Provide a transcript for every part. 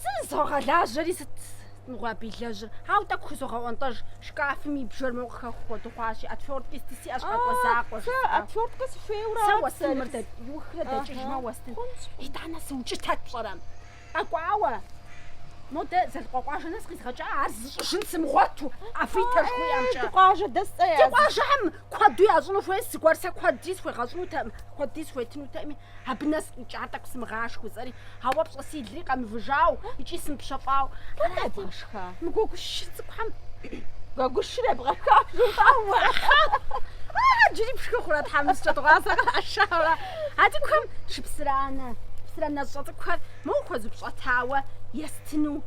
Сызогъэлажьэри сыт мыгъуэ абы илэжьыр? Хьэу, тӏэкӏу хузогъэӏуэнтӏэж, шкафым и бжэр моуэ къыхэху хуэду хъуащи, отверткэ сыти сиӏэщ къэкӏуэ закъуэ жыпӏэ. Хэ, отверткэ сыхуейуэ Сэ уэстын мыр дэт, иухрэ дэкӏыжмэ уэстын. Итӏанэ сыукӏытэт пщӏэрэ? Къэкӏуауэ. Модэ Зэлыкъуэкъуажэ нэс къизгъэкӏа, ар зыщӏыжын сымыгъуэту, Авитэ жыхуаӏэмкӏэ. Ди къуажэ дэскъэ ар зыщӏ. Ди къуажэхэм куэду ящӏыну хуейщ, зыгуэр сэ куэдри схуегъэщӏынутэкъым, куэдри схуетынутэкъыми. Абы нэс къикӏа тӏэкӏу сымыгъашхэу сэри, ауэ пщӏэ си лыри къэмывыжауэ икӏи сымыпщэфӏауэ. Арати, Дэнэ ебгъэшха? Мы гуэгушыр цӏыкӏухэм гуэгушыр ебгъэшха жумыӏэу? Ахьэ, джыри пшхы хъурэ тхьэмыщкӏэ дыгъуасэ къришауэра? А цӏыкӏухэм шыпсыранэ, псыранэщӏэ цӏыкӏухэр моуэ хуэзупщӏэтауэ естыну.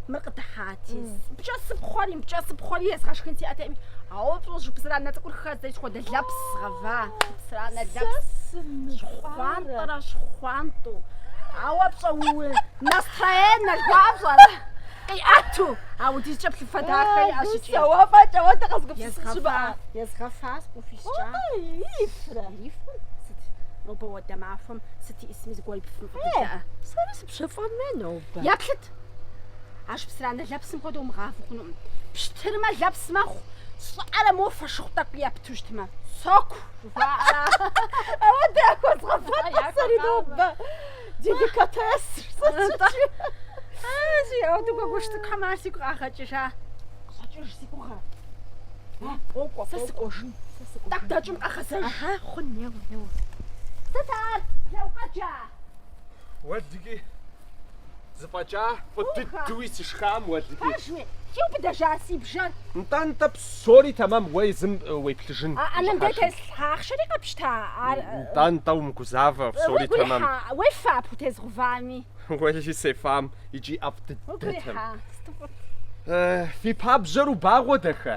Мыр къыдыхьати. Пкӏэ сыпхъуэри, пкӏэ сыпхъуэри езгъэшхын сиӏэтэкъыми. Ауэ пщӏэ шыпсыранэ цӏыкӏур хэздзэри апхуэдэ лэпс гъэва. Шыпсыранэ лэпс. Щхъуантӏэрэ щхъуантӏу. Ауэ пщӏэ уи настроенэр жыхуаӏэр пщӏэрэ? Къиӏэту. Апхуэдизкӏэ плъыфэ дахэ иӏэщ икӏи. Сэ уэ фӏэкӏа уэ дэ къэзыгупсысын щымыӏэ. Езгъэфащ къыхуискӏа. Ирифрэ? Ирифрэ? Сыт? Нобэ хуэдэ махуэм сыт иӏысми зыгуэр ипфым къыддыӏэ. Пщэфӏам нобэ. Еплъыт! А шыпсыранэ лэпсым хуэдэу мыгъафу хъунукъым. Пщтырмэ лэпс мэхъу, щӏыӏэрэ моуэ фошыгъу тӏэкӏу епту щытмэ, соку! жыхуаӏэра? Апхуэдэ яхуэзгъэват сэри нобэ. Деликатес! Атӏэ! Икӏи апхуэдэу гуэгуш цӏыкӏухэм ар сигу къагъэкӏыжа. Щӏэкӏыж си гугъэ. Къокӏуэ, сэ сыкӏуэжын. Тӏэкӏу дэкӏым къэгъэзэж. Хъун, неуэ, неуэ. Сыт ар, лӏо, укъэджа? Уэлдыки зыфӏэкӏа фӏы дыдуи сышхам уэлдыки. Пэжуи, иубыдыжа си бжэр? Нтӏэ-нтӏэ псори тэмэм уэ езым уеплъыжын. А ӏэнэм дэ телъ ахъшэри къэпщта ар. Нтӏэ-нтӏэ умыгузавэ, псори тэмэм. Уигу ирихьа, уефа пхутезгъэувами. Уэли сефам икӏи ӏэфӏ дыдэтэм. Уигу ирихьа, сыту фӏыт. Фи пабжьэр убагъуэ дахэ.